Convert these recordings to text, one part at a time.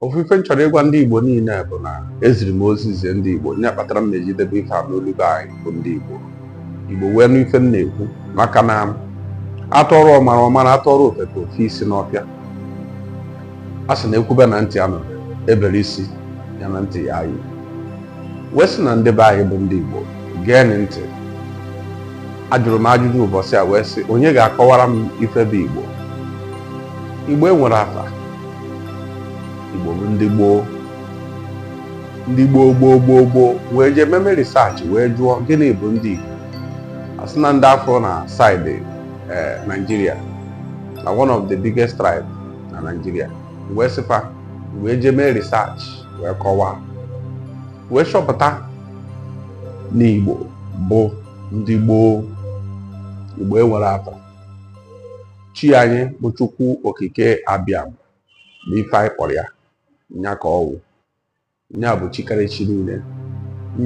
ofu ife m chọrọ ịgwa ndị Igbo niile bụ na eziri m ozi zie ndị Igbo nya kpatara m na-eji debe ife a n'olu be anyị bụ ndị Igbo Igbo wee nụ ife m na-ekwu maka na a tụọrọ ọmara ọ mara a tụọrọ ofeke o fe isi n'ọfịa a sị na e kwube na ntị anụ e bere isi ya na ntị ya anyị wee sị na ndị be anyị bụ ndị Igbo gee ntị ajụrụ m ajụjụ ụbọchị a wee sị onye ga-akọwara m ife bụ Igbo Igbo enwere afa Igbo bụ ndị gboo ndị gboo gboo gboo gboo wee jee meme research wee jụọ gịnị bụ ndị Igbo a sị na ndị a fụrụ na side eh, Nigeria na one of the biggest tribe na Nigeria wee sị fa wee jee mee research wee kọwaa wee chọpụta na Igbo bụ ndị gboo Igbo enwere atọ chi anyị bụ chukwu okike abịama bụ ife anyị kpọrọ ya nya ka ọ wụ nya bụ chi karịrị chi niile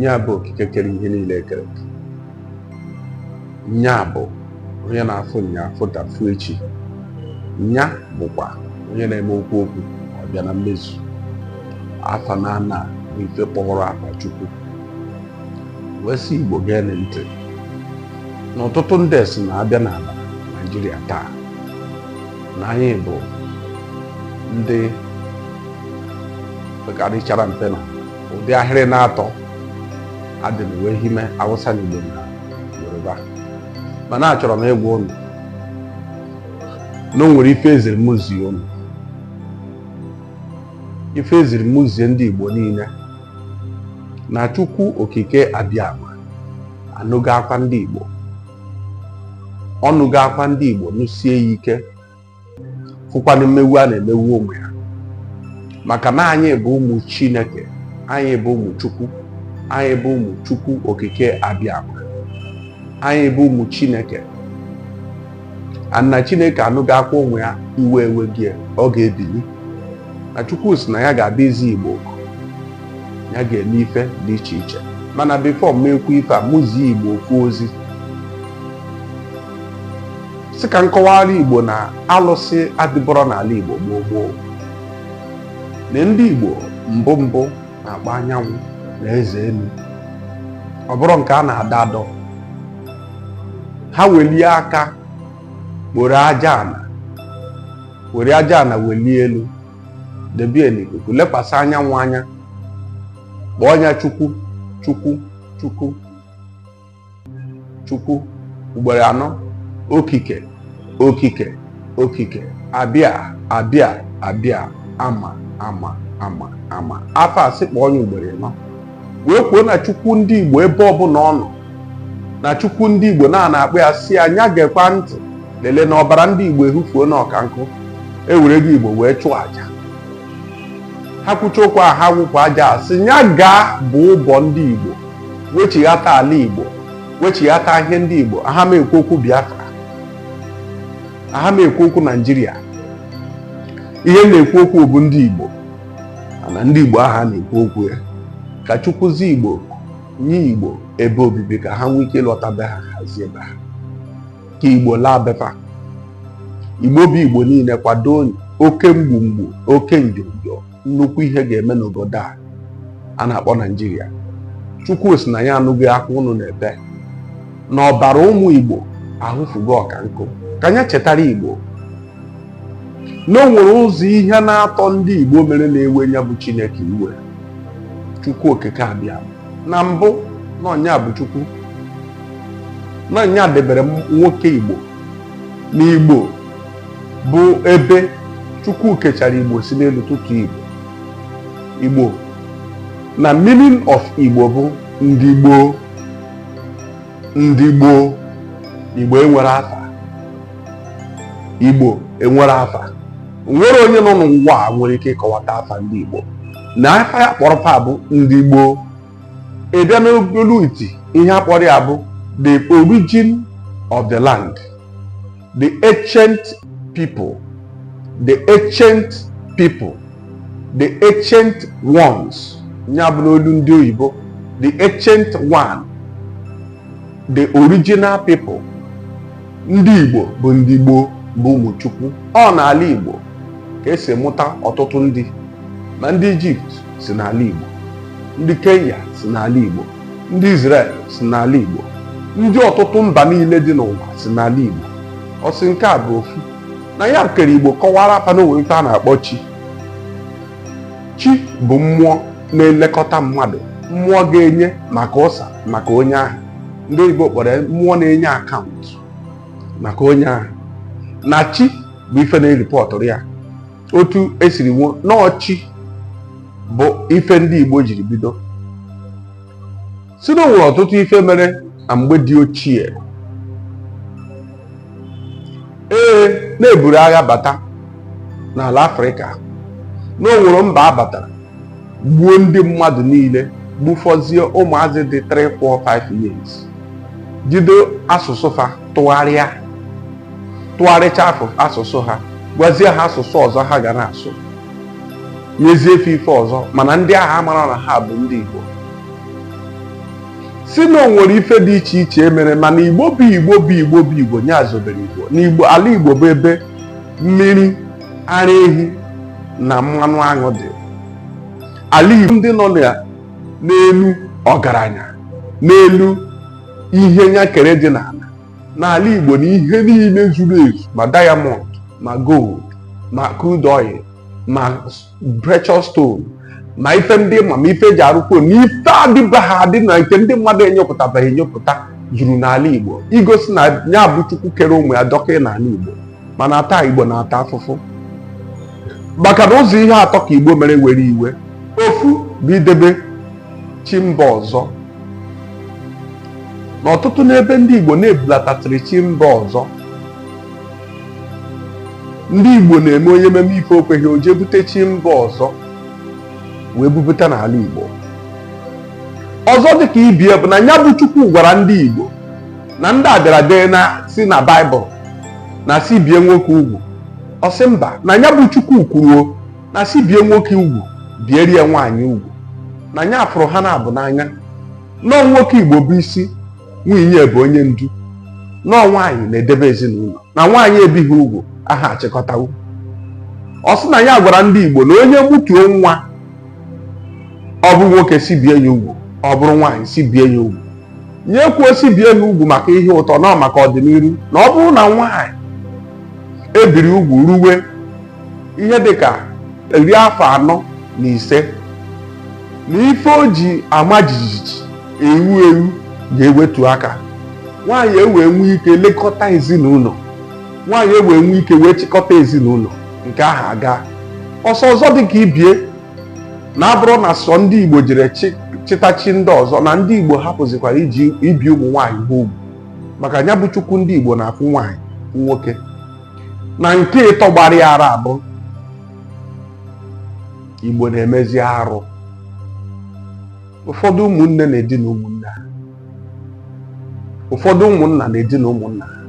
nya bụ okike kere ihe niile e kere eke nya bụ onye na-afụ nyaa fụ taa fụ echi nya bụkwa onye na-eme o kwuo okwu ọ bịa na mmezu afa na ana bụ ife kpọrọ afa chukwu wee sị igbo gee ntị na ọtụtụ ndị sị na a bịa n'ala naijiria taa na anyị bụ ndị pekarịchara mpe na ụdị ahịrị na-atọ adịrị wee hime awụsa na igbo na yoruba mana achọrọ m ịgwa unu na o nwere ife eziri m zie unu ife eziri m zie ndị igbo niile na Chukwu Okike Abịama anụgo akwa ndị Igbo ọ nụgo akwa ndị Igbo nụsie ya ike fụkwanụ mmegbu a na-emegbu ụmụ ya maka na anyị bụ ụmụ Chineke anyị bụ ụmụ Chukwu anyị bụ ụmụ Chukwu Okike Abịama anyị bụ ụmụ Chineke and na Chineke anụgo akwa ụmụ ya iwe ewego ya ọ ga-ebili na chukwu sị na ya ga-abịa izi igbo oku ya ga-eme ife dị iche iche mana before m ekwu ife a mụ zie igbo okwu ozi sị ka m kọwaara igbo na alụsị adịburọ n'ala igbo gboo gboo na ndị igbo mbụ mbụ na-akpọ anyanwụ na eze elu ọ bụrụ nke a na-adọ adọ ha welie aka kporo aja ala were aja na welie elu debie n'ikuku lekwasị anyanwụ anya kpọọ nya chukwu chukwu chukwu chukwu ugboro anọ okike okike okike abịa abịa abịa ama ama ama ama afa a sị kpọọ nya ugboro ịnọ wee kwuo na chukwu ndị igbo ebe ọbụla ọ nọ na chukwu ndị igbo na a na-akpọ ya sị nya gekwa ntị lelee na ọbara ndị igbo ehufuo na ọka nkụ ewerego igbo wee chụọ aja ha kwucha okwu a ha wụpụ aja a sị nya gaa bụ ụbọ ndị igbo wechighata ala igbo wechighata ihe ndị igbo aha m ekwu okwu biafra aha m ekwu okwu naijiria ihe m na-ekwu okwu bụ ndị igbo na ndị Igbo ahụ a na-ekwu okwu ya ka chukwuzi Igbo nye Igbo ebe obibi ka ha nwee ike ịlọta be ha hazie be ha ka Igbo laa be fa Igbo bụ Igbo niile kwado oke mgbumgbu oke njọnjọ nnukwu ihe ga-eme n'obodo a a na-akpọ Naijiria Chukwu sị na nya anụgo akwa ụnụ na-ebe na ọbara ụmụ Igbo ehufugo ọka nkụ ka nya chetara Igbo na o nwere ụzọ ihe n'atọ ndị Igbo mere na-ewe nya bụ Chineke iwe Chukwu okike abịama mbụ na ọ nya bụ Chukwu na ọ nya debere nwoke Igbo na Igbo bụ ebe Chukwu kechara Igbo si n'elu tụtụ Igbo Igbo na meaning of Igbo bụ ndị gboo ndị gboo Igbo enwere afa Igbo enwere afa nwere onye nọ n'ụwa a nwere ike ịkọwata afa ndị Igbo na afa ya kpọrọ fa bụ ndị gboo ị bịa n'olu iti ihe a kpọrọ ya bụ the origin of the land the ancient people the ancient people the ancient ones nya bụ n'olu ndị oyibo the ancient one the original people ndị Igbo bụ ndị gboo bụ ụmụ Chukwu ọ n'ala Igbo ka e si mụta ọtụtụ ndị ma ndị Ijipt si n'ala Igbo ndị Kenya si n'ala Igbo ndị Israel si n'ala Igbo ndị ọtụtụ mba niile dị n'ụwa si n'ala Igbo ọ sị nke a bụ ofu na ya kere Igbo kọwaara fa na o nwe ife a na-akpọ chi chi bụ mmụọ na-elekọta mmadụ mmụọ ga-enye maka ụsa maka onye ahụ ndị oyibo kpọrọ ya mmụọ na-enye akaụntụ maka onye ahụ na chi bụ ife na-eripọtụrụ ya otu e siri nwụọ na ọ chi bụ ife ndị Igbo jiri bido sị na o nwere ọtụtụ ife mere na mgbe dị ochie ee na-eburu agha bata n'ala afrịka na o nwere mba abatara gbuo ndị mmadụ niile gbufọzie ụmụazị dị 3 4 5 years jide asụsụ fa tụgharịa tụgharịcha asụsụ ha gwazie ha asụsụ ọzọ ha ga na-asụ nyezie fa ife ọzọ mana ndị agha mara na ha bụ ndị Igbo sị na o nwere ife dị iche iche e mere mana igbo bụ igbo bụ igbo bụ igbo nya zobere igbo na igbo ala igbo bụ ebe mmiri ara ehi na mmanụ aṅụ dị ala igbo ndị nọ n'elu ọgaranya n'elu ihe nya kere dị n'ala n'ala igbo na ihe niile zuru ezu ma diamond ma gold ma crude oil ma precious stone ma ife ndị ma ma ife e ji arụ fon na ife adịbaghị adị na nke ndị mmadụ enyopụtabeghị enyopụta juru n'ala igbo igosi na ya bụ chukwu kere ụmụ ya dọkwa n'ala igbo mana taa igbo na-ata afụfụ maka na ụzọ ihe atọ ka igbo mere were iwe ofu bụ idebe chi mba ọzọ n'ọtụtụ n'ebe ndị igbo na-ebulatasịrị chi mba ọzọ ndị Igbo na-eme onye meme ife o kweghị o jee bute chi mba ọzọ wee bubata n'ala Igbo ọzọ dịka ibie bụ na ya bụ Chukwu gwara ndị Igbo na ndị a bịara dee na si na Baịbụl na sị bie nwoke ugwu ọ sị mba na ya bụ Chukwu kwuruo na sị bie nwoke ugwu bierie nwaanyị ugwu na ya fụrụ ha n'abụọ n'anya na ọ nwoke Igbo bụ isi nwunye bụ onye ndu na ọ nwaanyị na-edebe ezinụlọ na nwaanyị ebighị ugwu aha achịkọtanwu ọ sị na ya gwara ndị Igbo na onye mụtuo nwa ọ bụrụ nwoke sị bie ya ugwu ọ bụrụ nwaanyị sị bie ya ugwu nya ekwuo sị bie ya ugwu maka ihe ụtọ na ọ maka ọdịnihu na ọ bụrụ na nwaanyị e biri ugwu ruwe ihe dị ka iri afọ anọ na ise na ife o ji ama jijiji ewu ewu ga-ewetu aka nwaanyị ewee nwee ike lekọta ezinụlọ nwaanyị ewee nwee ike wee chịkọta ezinụlọ nke ahụ agaa ọsọ ọzọ dị ka ibie na abụrọ na sọ ndị Igbo jere chịta chi ndị ọzọ na ndị Igbo hapụzikwara iji ibi ụmụ nwaanyị ha ugwu maka ya bụ chukwu ndị Igbo na-afụ nwaanyị nwoke na nke ịtọ gbara ya ara bụ igbo na-emezi arụ ụfọdụ ụmụnne na-edina ụmụnne ha ụfọdụ ụmụnna na-edina ụmụnna ha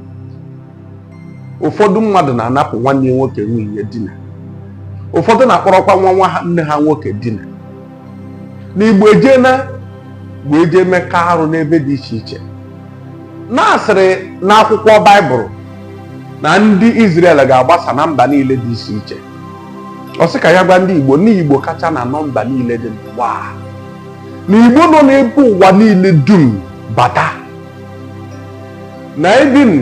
ụfọdụ mmadụ na-anapụ nwanne ya nwoke nwunye dina ụfọdụ na-akpọrọkwa nwa nwanne ha nwoke dina na igbo ejena wee jee mekọ arụ n'ebe dị iche iche na a sịrị n'akwụkwọ baịbụl na ndị Izrel ga-agbasa na mba niile dị iche iche ọ sị ka ya gwa ndị Igbo na Igbo kacha na nọmba niile dị n'ụwa na Igbo nọ n'ebe ụwa niile dum bata na even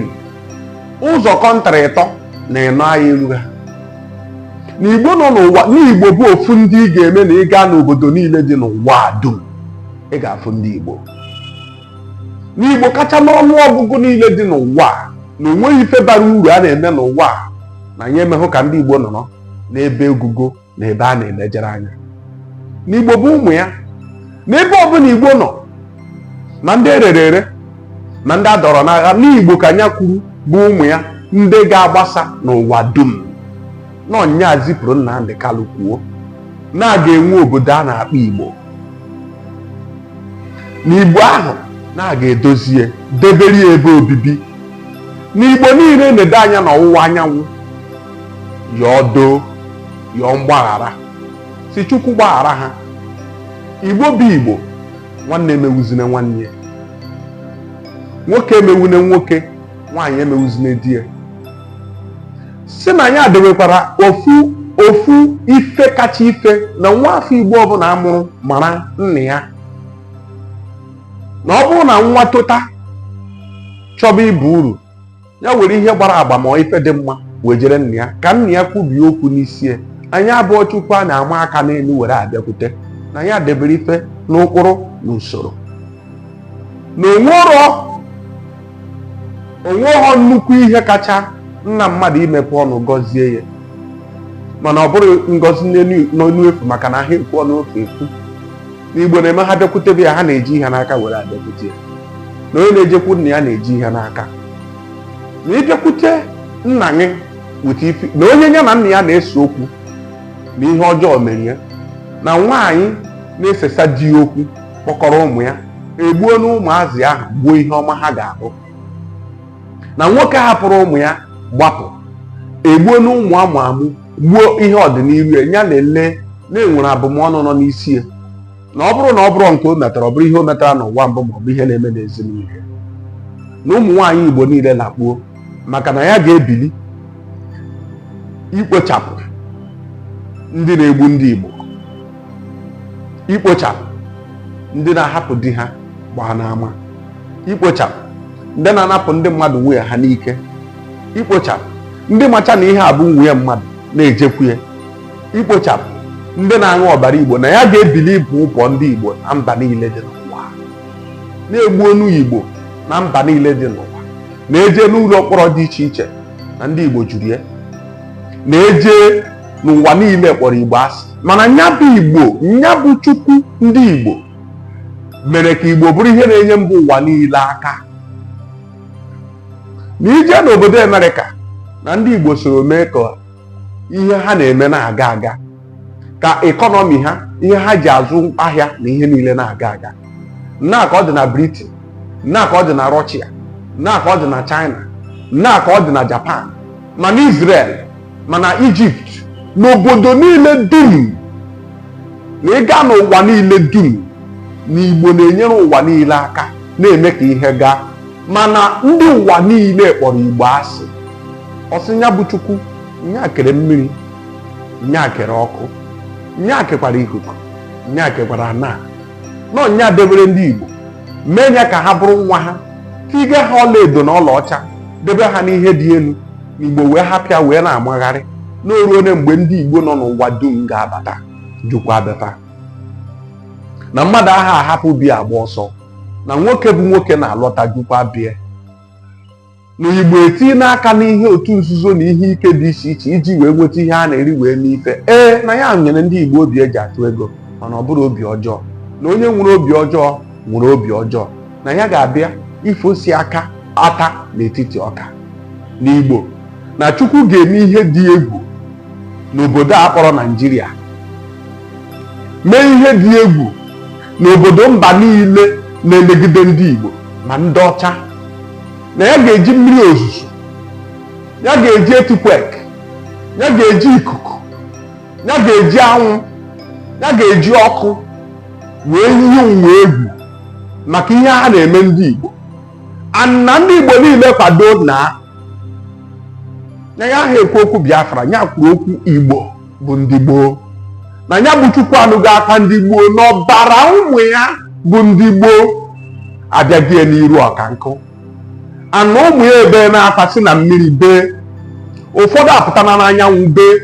ụzọ kọntrị ịtọ na ịnọ anyị elu ha na igbo nọ n'ụwa na igbo bụ ofu ndị ị ga-eme na ị gaa n'obodo niile dị n'ụwa dum ị ga-afụ ndị igbo na igbo kacha n'ọnụ ọgụgụ niile dị n'ụwa na o nweghị ife bara uru a na-eme n'ụwa na nya emehụ ka ndị igbo nọrọ n'ebe ogogo na ebe a na-elejere anya na igbo bụ ụmụ ya n'ebe ọbụla igbo nọ ma ndị e rere ere ma ndị a dọrọ n'agha na igbo ka nya kwuru bụ ụmụ ya ndị ga-agbasa n'ụwa dum na ọ nya zipụrụ Nnamdi Kanu kwuo na a ga-enwe obodo a na-akpọ igbo na igbo ahụ na a ga-edozie debere ya ebe obibi na igbo niile nede anya n'ọwụwa anyanwụ yọọ doo yọọ mgbaghara sị chukwu gbaghara ha igbo bụ igbo nwanne emewuzine nwanne ya nwoke emewune nwoke nwaanyị emewuzine di ya sị na ya dewekwara ofu ife kacha ife na nwa afọ igbo ọbụla a mụrụ mara nna ya na ọ bụrụ na nwa tota chọba ibu uru ya were ihe gbara agba ma ife dị mma wejere nna ya ka nna ya kwubie okwu n'isi ya na nya abụghọ chukwu a na-ama aka n'elu were abịakwute na ya debere ife n'ụkpụrụ na usoro na o nwero o nweghọ nnukwu ihe kacha nna mmadụ imepe ọnụ gọzie ya mana ọ bụrụ ngọzi n'ọnụ efu maka na ha ekwu ọnụ ofe ekwu na igbo na-eme ha bịakwutebe ya ha na-eji ihe n'aka were abịakwute ya na onye na-ejekwu nna ya na-eji ihe n'aka na ị bịakwute nna gị weta ife na onye ya na nna ya na-ese okwu na ihe ọjọọ mere ya na nwaanyị na-esesa di ya okwu kpọkọrọ ụmụ ya egbuona ụmụazị ahụ gbuo ihe ọma ha ga-abụ na nwoke hapụrụ ụmụ ya gbapụ egbuona ụmụ amụ amụ gbuo ihe ọdịnihu ya ya lele na e nwere abụmọnụ nọ n'isi ya na ọ bụrụ na ọ bụrụ nke o metara ọ bụrụ ihe o metara n'ụwa mbụ ma ọ bụ ihe na-eme n'ezinụlọ ya na ụmụ nwaanyị Igbo niile lakpuo maka na ya ga-ebili ikpochapụ ndị na-egbu ndị Igbo ikpochapụ ndị na-ahapụ di ha gbaa n'ama ikpochapụ ndị na-anapụ ndị mmadụ nwunye ha n'ike ikpochapụ ndị macha na ihe a bụ nwunye mmadụ na-ejekwu ya ikpochapụ ndị na-aṅụ ọbara igbo na ya ga-ebili ịbọ ọbọ ndị igbo na mba niile dị n'ụwa na-egbu onu igbo na mba niile dị n'ụwa na e jee n'ụlọ mkpọrọ dị iche iche na ndị igbo juru ya na-eje n'ụwa niile kpọrọ igbo asị mana nya bụ igbo nya bụ chukwu ndị igbo mere ka Igbo bụrụ ihe na-enye mba ụwa niile aka na i jee n'obodo Amerịka na ndị Igbo soro mee ka ihe ha na-eme na-aga aga ka ekọnọmi ha ihe ha ji azụ ahịa na ihe niile na-aga aga nna ka ọ dị na Britain nna ka ọ dị na Russia nna ka ọ dị na China nna ka ọ dị na Japan ma na Israel ma na Egypt n'obodo niile dum na ị gaa n'ụwa niile dum na igbo na-enyere ụwa niile aka na-eme ka ihe gaa mana ndị ụwa niile kpọrọ igbo asị ọ sị nya bụ chukwu nya kere mmiri nya kere ọkụ nya kekwara ikuku nya kekwara ana na nya debere ndị igbo mee ya ka ha bụrụ nwa ha tiga ha ọlaedo na ọlaọcha debe ha n'ihe dị elu igbo wee hapịa wee na-amagharị na o ruone mgbe ndị igbo nọ n'ụwa dum ga-abata jukwa abata na mmadụ aha ahapụ bie agba ọsọ na nwoke bụ nwoke na-alọta jukwa bie na igbo etinyena aka n'ihe otu nzuzo na ihe ike dị iche iche iji wee nweta ihe a na-eri wee mee ife ee na ya nyere ndị igbo obi eji atụ ego mana ọ bụrụ obi ọjọọ na onye nwere obi ọjọọ nwere obi ọjọọ na ya ga-abịa ifosi aka ata n'etiti ọka n'Igbo na Chukwu ga-eme ihe dị egwu n'obodo a kpọrọ Naijiria mee ihe dị egwu n'obodo mba niile na-emegide ndị Igbo ma ndị ọcha na ya ga-eji mmiri ozuzo ya ga-eji earthquake ya ga-eji ikuku ya ga-eji anwụ ya ga-eji ọkụ wee yie ụwa egwu maka ihe ha na-eme ndị Igbo na ndị Igbo niile kwado na na ya aha ekwu okwu Biafra ya kwuru okwu Igbo bụ ndị gboo na ya bụ Chukwu anụgo akwa ndị gboo na ọbara ụmụ ya bụ ndị gboo abịago n'iru ọka nkụ ana ụmụ ya ebeena akwa si na mmiri bee ụfọdụ apụtana n'anyanwụ bee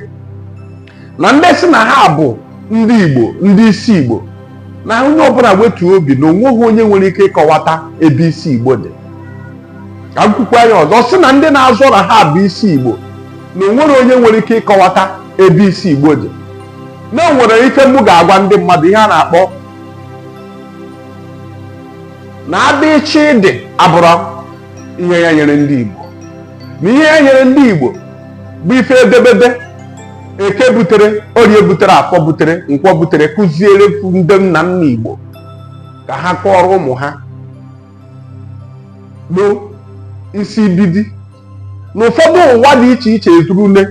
na ndị sị na ha bụ ndị igbo ndị isi igbo na onye ọbụla wetuo obi na onweghị onye nwere ike ịkọwata ebe isi igbo dị ka m kwukwa ya ọzọ sị na ndị na-azọ na ha bụ isi igbo na onwere onye nwere ike ịkọwata ebe isi igbo dị na onwere ife mụ ga-agwa ndị mmadụ ihe a na-akpọ na abịchịdị abụrọ ihe ya nyere ndị Igbo na ihe ya nyere ndị Igbo bụ ife edemede eke butere orie butere afọ butere nkwọ butere kụziere ndị nna nna Igbo ka ha kọọrọ ụmụ ha nsibidi na ụfọdụ ụwa dị iche iche ezurule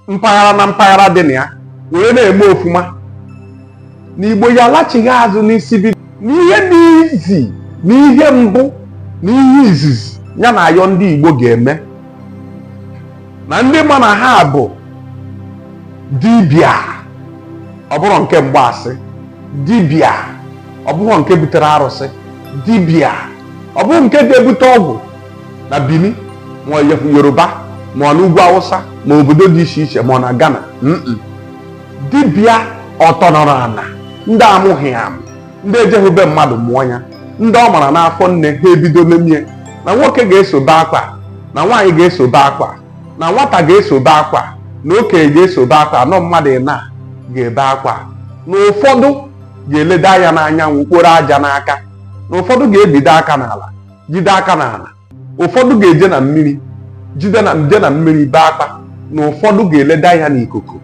mpaghara na mpaghara dị na ya wee na-eme ofuma na igbo ya alachighị azụ nsibidi n'ihe dị izi na ihe mbụ na ihe izizi ya na-ayọ ndị igbo ga-eme na ndị ma na ha bụ dibịa ọ bụrọ nke mgbaasị dibịa ọ bụrọ nke butere arụsị dibịa ọ bụrọ nke ga-ebute ọgwụ na Benin ma Yoruba ma ọ na ugwu Awụsa ma obodo dị iche iche ma ọ na Ghana dibịa ọtọnọrọ ana ndị amụghị amụ ndị ejeghị be mmadụ mụọ ya ndị ọ mara n'afọ nne ha ebido memie na nwoke ga-eso be akwa na nwaanyị ga-eso be akwa na nwata ga-eso be akwa na okenye ga-eso be akwa na ọ mmadụ nine ga-ebe akwa na ụfọdụ ga-elede anya n'anyanwụ kporo aja n'aka na ụfọdụ ga-ebido aka n'ala jide aka n'ala ụfọdụ ga-eje na mmiri jide na je na mmiri bee akwa na ụfọdụ ga-elede anya n'ikuku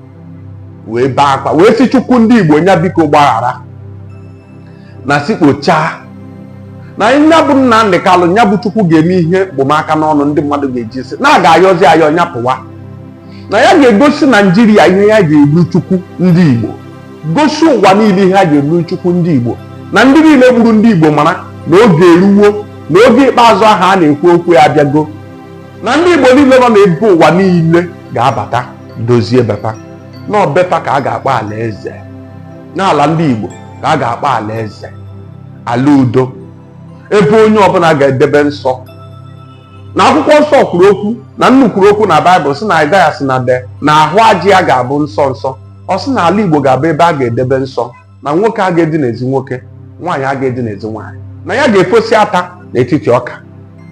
wee bee akwa wee sị chukwu ndị igbo nya biko gbaghara na si kpochaa na nya bụ Nnamdi Kalụ nya bụ chukwu ga-eme ihe mkpom aka n'ọnụ ndị mmadụ ga-eji sị na a ga-ayọzi ayọ nya pụwa na ya ga-egosi Naịjirịa ihe ya ji bụrụ chukwu ndị igbo gosi ụwa niile ihe ya ji bụrụ Chukwu ndị Igbo na ndị niile gburu ndị Igbo mara na oge eruwo na oge ikpeazụ ahụ a na-ekwu okwu ya abịago na ndị Igbo niile nọ n'ebe ụwa niile ga-abata dozie be fa na ọ be fa ka a ga-akpọ alaeze na ala ndị Igbo ka a ga-akpọ alaeze ala udo ebe onye ọbụla ga-edebe nsọ na akwụkwọ nsọ kwuru okwu na nnu kwuru okwu na baịbụl sị na aịzaya sị na dee na ahụ ajị ya ga-abụ nsọ nsọ ọ sị na ala igbo ga-abụ ebe a ga-edebe nsọ na nwoke aga-edinezi nwoke nwaanyị aga-edinezi nwaanyị na ya ga-efosi ata n'etiti ọka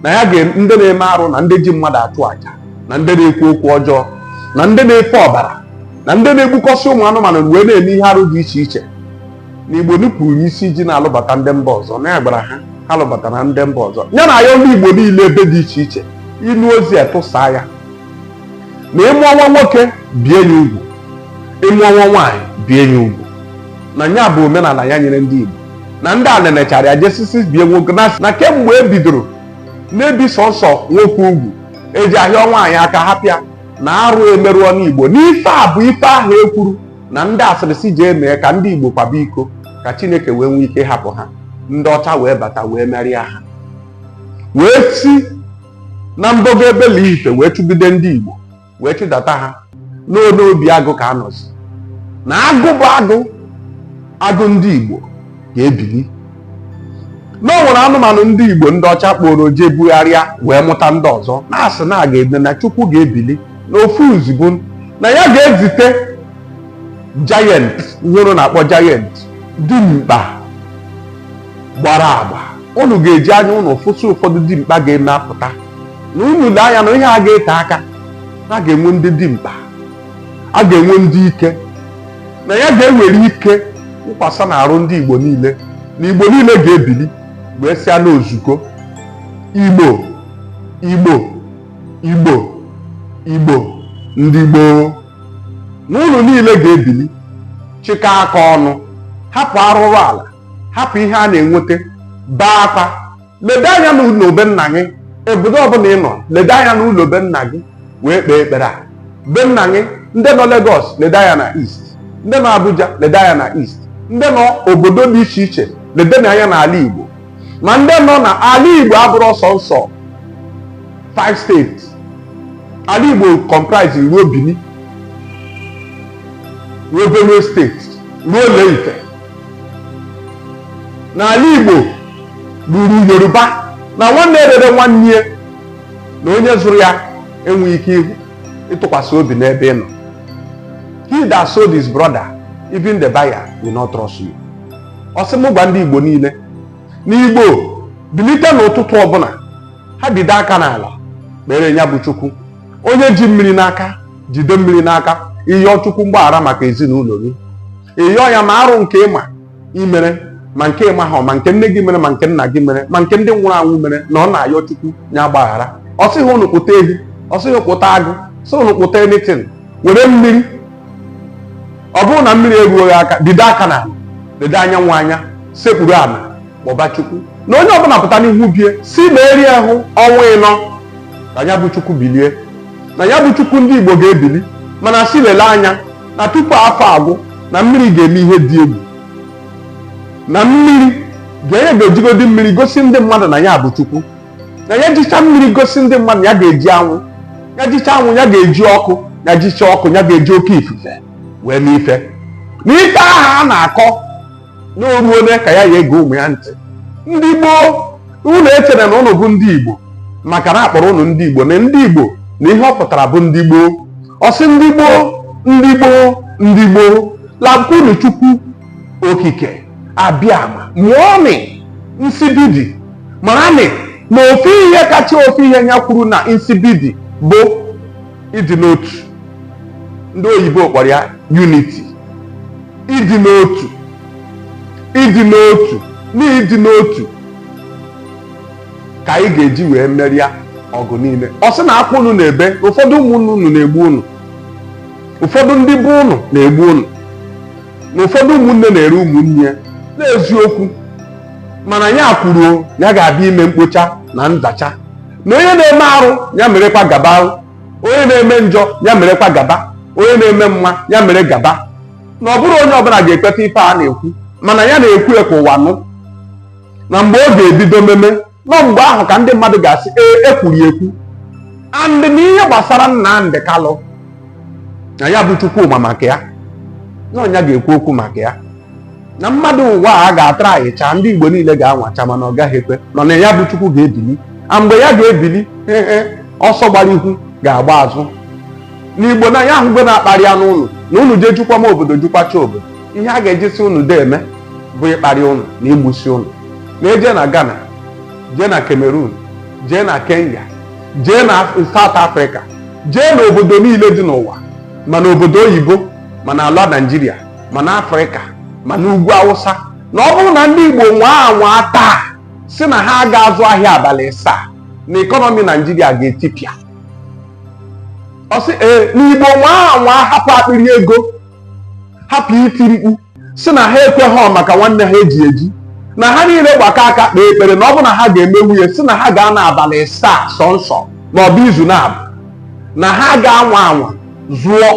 na ya ndị na-eme arụ na ndị ji mmadụ achụ aja na ndị na-ekwu okwu ọjọọ na ndị na-efe ọbara na ndị na-egbukọsị ụmụ anụmanụ wee na-eme ihe arụ dị iche iche na igbo nupụrụ isi ji na-alụbata ndị mba ọzọ na ya gwara ha ha alụbatala ndị mba ọzọ ya na-ayọ ndị igbo niile ebe dị iche iche ị nụ ozi a tụsaa ya na ị mụọ nwa nwoke bie ya ugwu ị mụọ nwa nwaanyị bie ya ugwu na ya bụ omenala ya nyere ndị igbo na ndị a nenechara ya jesisi bie nwoke na na kemgbe e bidoro na-ebi sọnsọ nwoke ugwu eji ahịa nwaanyị aka hapụ ya na arụ emerụọ n'igbo na ife a bụ ife ahụ e kwuru na ndị asịrị si jee mee ka ndị Igbo kwaba iko ka Chineke wee nwee ike hapụ ha ndị ọcha wee bata wee merịa ha wee si na mbogo ebe Ile-Ife wee chụgide ndị Igbo wee chụdata ha n'obi agụ ka a nọzi na agụ bụ agụ agụ ndị Igbo ga-ebili na o nwere anụmanụ ndị Igbo ndị ọcha kpọrọ jee bugharịa wee mụta ndị ọzọ na-asị na a ga-eme na Chukwu ga-ebili na ofu ozugbo na ya ga-ezite giant ihe unu na-akpọ giant dimkpa gbara agba unu ga-eji anya unu fụsị ụfọdụ dimkpa ga-eme apụta na unu lee anya na ihe a ga-ete aka a ga-enwe ndị dimkpa a ga-enwe ndị ike na ya ga-ewere ike wụkwasa na arụ ndị Igbo niile na Igbo niile ga-ebili wee sịa n'ozuko Igbo Igbo Igbo Igbo ndị gboo na unu niile ga-ebili chịkọ aka ọnụ hapụ arụrụ ala hapụ ihe a na-enweta bee akwa lede anya n'ụlọ be nna gị obodo ọbụla ị nọ lede anya n'ụlọ be nna gị wee kpee ekpere a be nna gị ndị nọ Lagos lede anya na East ndị nọ Abuja lede anya na East ndị nọ obodo dị iche iche ledenụ anya n'ala Igbo ma ndị nọ na ala Igbo abụrọ sọsọ five state ala Igbo comprise ruo Benin ruo Benue state ruo Ile-Ife na ala Igbo ruru Yoruba na nwanne rere nwanne ya na onye zụrụ ya enweghị ike inwe ntụkwasị obi n'ebe ị nọ he that sold his brother even the buyer will not trust you ọ sị m gwa ndị Igbo niile na Igbo bilite n'ụtụtụ ọbụla ha bide aka n'ala kpere ya bụ Chukwu onye ji mmiri n'aka jide mmiri n'aka ị yọọ chukwu mgbaghara maka ezinụlọ gị ị yọọ ya ma arụ nke ị ma i mere ma nke ị maha ma nke nne gị mere ma nke nna gị mere ma nke ndị nwụrụ anwụ mere na ọ na-ayọ chukwu ya gbaghara ọ sịghị ụnụ kpụta ehi ọ sịghị kpụta eghu sị ụnụ kpụta anything were mmiri ọ bụrụ na mmiri eruoghị aka bide aka n'ala lede anyanwụ anya sekpuru ala kpọba chukwu na onye ọbụla pụta n'ihu be ya sị na erughị ọnwa ịnọ ka ya bụ chukwu bilie na ya bụ chukwu ndị igbo ga-ebili mana sị lele anya na tupu afọ agwụ na mmiri ga-eme ihe dị egwu na mmiri ka ya ga-ejigodi mmiri gosi ndị mmadụ na ya bụ chukwu na ya jicha mmiri gosi ndị mmadụ ya ga-eji anwụ ya jicha anwụ ya ga-eji ọkụ ya jicha ọkụ ya ga-eji oke ifufe wee mee ife na ife ahụ a na-akọ n'oruole ka ya ya ege ụmụ ya ntị ndị gboo unu echere na ụnụ bụ ndị igbo maka na akpọrọ ụnụ ndị igbo na ndị igbo na ihe ọ pụtara bụ ndị gboo ọ sị ndị gboo ndị gboo ndị gboo lakwunu chukwu okike abịama mụọnị nsibidi maranị na ofu ihe kacha ofu ihe ya kwuru na nsibidi bụ ịdị n'otu ndị oyibo kpọrọ ya unity ịdị n'otu ịdị n'otu na ịdị n'otu ka anyị ga-eji wee merie ọgụ niile ọ sị na akwa unu na-ebe ụfọdụ ụmụnne unu na-egbu unu ụfọdụ ndị bụ unu na-egbu unu na ụfọdụ ụmụnne na-ere ụmụnne ya n'eziokwu mana ya kwuru ya ga-abịa ime mkpocha na nzacha na onye na-eme arụ ya merekwa gaba onye na-eme njọ ya merekwa gaba onye na-eme mma ya mere gaba na ọ bụrọ onye ọbụla ga-ekweta ife a na-ekwu mana ya na-ekwu ya ka ụwa nụ na mgbe ọ ga-ebido meme n'ọ mgbe ahụ ka ndị mmadụ ga-asị ee e kwuru ekwu and na ihe gbasara Nnamdi Kalụ na ya bụ Chukwu ma maka ya na ọ nya ga-ekwu okwu maka ya na mmadụ ụwa a ga-atara ahịcha ndị igbo niile ga-anwụcha mana ọ gaghị ekwe n'ọ nya bụ chukwu ga-ebili na mgbe ya ga-ebili ọsọ gbara ihu ga-agba azụ n'igbo na ya ahụgo na akparịana ụnụ na ụnụ jee jukwa m obodo jukwacha obodo ihe a ga-ejisi ụnụ de eme bụ ịkparị ụnụ na igbusi ụnụ na e jee na ghana jee na cameroon jee na kenya jee na south africa jee n'obodo niile dị n'ụwa ma n'obodo oyibo ma n'ala naijiria ma n'afrịka ma n'ugwu awụsa na ọ bụrụ na ndị igbo nwaa anwa taa sị na ha aga azụ ahịa abalị asaa na ekọnọmi naijiria ga-etipịa ọ sị ee na igbo nwaa anwa hapụ akpịrị ego hapụ iti mkpu sị na ha ekweghị maka nwanne ha eji eji na ha niile gbakọ aka kpee ekpere na ọ bụrụ na ha ga-emenwu ya sị na ha ga-anọ abalị asaa sọ nsọ ma ọ bụ izu naabọ na ha ga-anwa anwa zụọ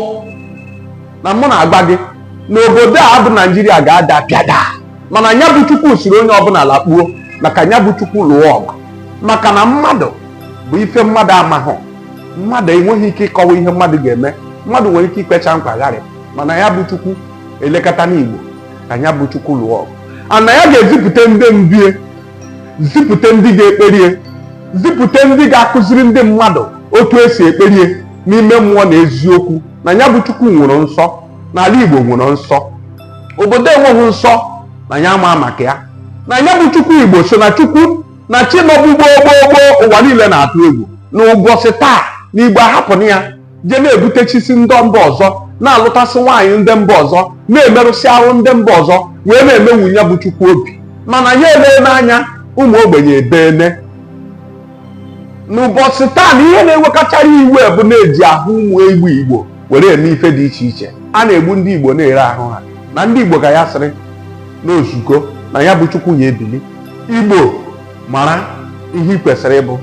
na mụ na-agwa gị na obodo a bụ naijiria ga-ada pịada mana nya bụ chukwu sịrị onye ọbụla lakpuo ma ka nya bụ chukwu lụọ ọgụ maka na mmadụ bụ ife mmadụ amahụ mmadụ enweghị ike ịkọwa ihe mmadụ ga-eme mmadụ nwere ike ikwecha nkwa gharịa mana ya bụ chukwu elekọta n'igbo ka ya bụ chukwu lụọ ọgụ na ya ga-ezipụta ndị ndie zipụta ndị ga-ekperie zipụta ndị ga-akụziri ndị mmadụ otu e si ekperie n'ime mmụọ na eziokwu na ya bụ chukwu nwere nsọ na ala igbo nwere nsọ obodo enweghị nsọ na ya ama maka ya na ya bụ chukwu igbo so na chukwu na chi nọbụ gboo gboo gboo ụwa niile na-atụ egwu na ụbọchị taa na igbo ahapụna ya je na-ebutechisi ndị mba ọzọ na-alụtasị nwaanyị ndị mba ọzọ na-emerụsị ahụ ndị mba ọzọ wee na-emenwu ya bụ chukwu obi mana ya eleene anya ụmụ ogbenye ebeene n'ụbọchị taa na ihe na-ewekachara iwe bụ na-eji ahụ ụmụ igbo igbo were eme ife dị iche iche a na-egbu ndị igbo na-ere ahụ ha na ndị igbo ka ya sịrị na o zugo na ya bụ chukwu ya ebili igbo mara ihe ị kwesịrị ịbụ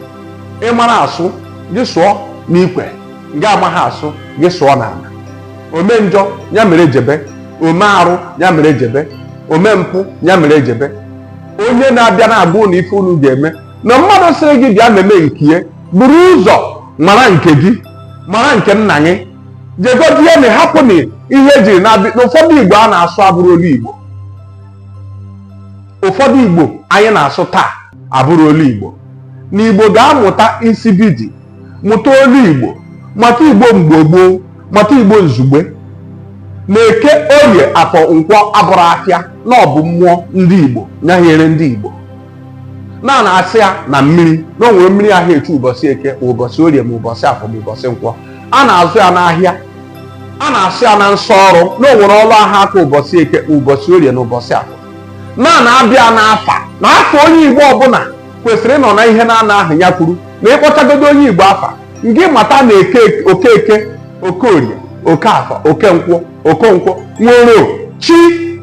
ị mara asụ gị sụọ n'ikwe ngị amaghị asụ gị sụọ n'ala ome njọ ya mere jebe ome arụ ya mere jebe ome mpụ ya mere jebe onye na-abịa na-agwa unu ife unu ga-eme na mmadụ sịrị gị bịa meme nkie buru ụzọ mara nke gị mara nke nna gị jegodie na hapụ na ihe ejiri na-abịa na ụfọdụ igbo a na-asụ abụrọ olu igbo ụfọdụ igbo anyị na-asụ taa abụrọ olu igbo na igbo ga-amụta nsibidi mụta olu igbo mata igbo mgbe gboo mata igbo nzugbe na eke orie afọ nkwọ abụrọ afịa na ọ bụ mmụọ ndị igbo nya hiere ndị igbo na a na-asọ ya na mmiri na onwere mmiri aha echu ụbọchị eke ụbọchị orie ma ụbọchị afọ ma ụbọchị nkwọ a na-azụ ya n'ahịa a na-asọ ya na nsọ ọrụ na onwere ọrụ aha aga ụbọchị eke ụbọchị orie na ụbọchị afọ na a na-abịa n'afa na afa onye igbo ọbụla kwesịrị ịnọ na ihe naanọ ahụ ya kwuru na ị kpọchagodo onye igbo afa ngị mata na okeke okorie okeafọ okenkwọ okonkwọ nwere chi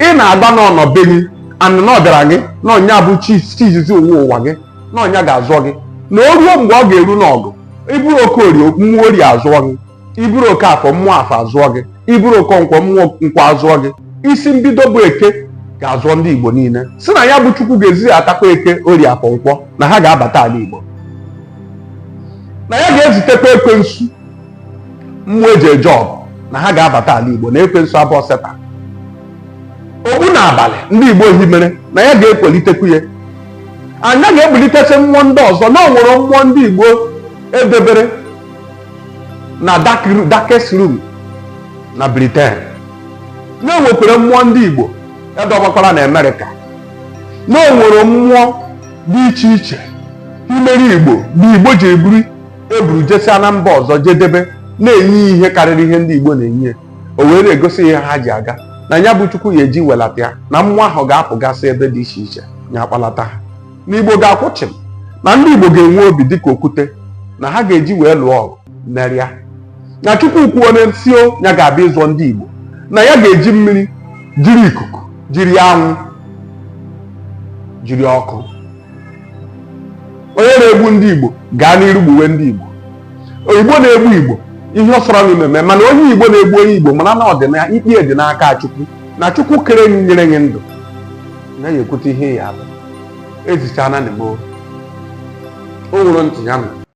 ị na-agba na ọ nọ be gị and na ọ bịara gị na ọ nya bụ chi chi izizi nwe ụwa gị na ọ nya ga-azọ gị na o ruo mgbe ọ ga-eru n'ọgụ ị bụrụ okorie mmụọ orie azọọ gị ị bụrụ okeafọ mmụọ afọ azọọ gị ị bụrụ okenkwọ mmụọ nkwọ azọọ gị isi mbido bụ eke ga-azọ ndị igbo niile sị na ya bụ chukwu ga-ezidatakwa eke orie afọ nkwọ na ha ga-abata ala igbo na ya ga-ezitekwa ekwensu mmụọ eji eje ọgụ na ha ga-abata ala igbo na ekwensu abụhọ satan ogbu na abalị ndị igbo ihe mere na ya ga-ekulitekwu ya nya ga-ebulitesi mmụọ ndị ọzọ na onwere mmụọ ndị igbo edebere na darkest room na britain na enwekwara mmụọ ndị igbo edọbakwara na amerịka na onwere mmụọ dị iche iche ihe mere igbo bụ igbo ji eburi e buru jesia na mba ọzọ jedebe na-enye ihe karịrị ihe ndị Igbo na-enye o wee na-egosi ihe ha ji aga na ya bụ Chukwu ya eji welata ya na mmụọ ahụ ga-apụgasị ebe dị iche iche ya akpalata ha na Igbo ga-akwụ chịm na ndị Igbo ga-enwe obi dịka okwute na ha ga-eji wee lụọ ọgụ merịa na Chukwu kwuo n'isi onwe ya ga-abịa ịzọ ndị Igbo na ya ga-eji mmiri jiri ikuku jiri anwụ jiri ọkụ onye na-egbu ndị Igbo gaa n'iru gbuwe ndị Igbo onye Igbo na-egbu Igbo ihe ọ sọrọ unu na-eme mana onye Igbo na-egbu onye Igbo mara na ọ dị n'ikpe dị n'aka Chukwu na Chukwu kere anyị nyere anyị ndụ na ya ekwute ihe ya bụ ezichana na o nwere ntị ya nụ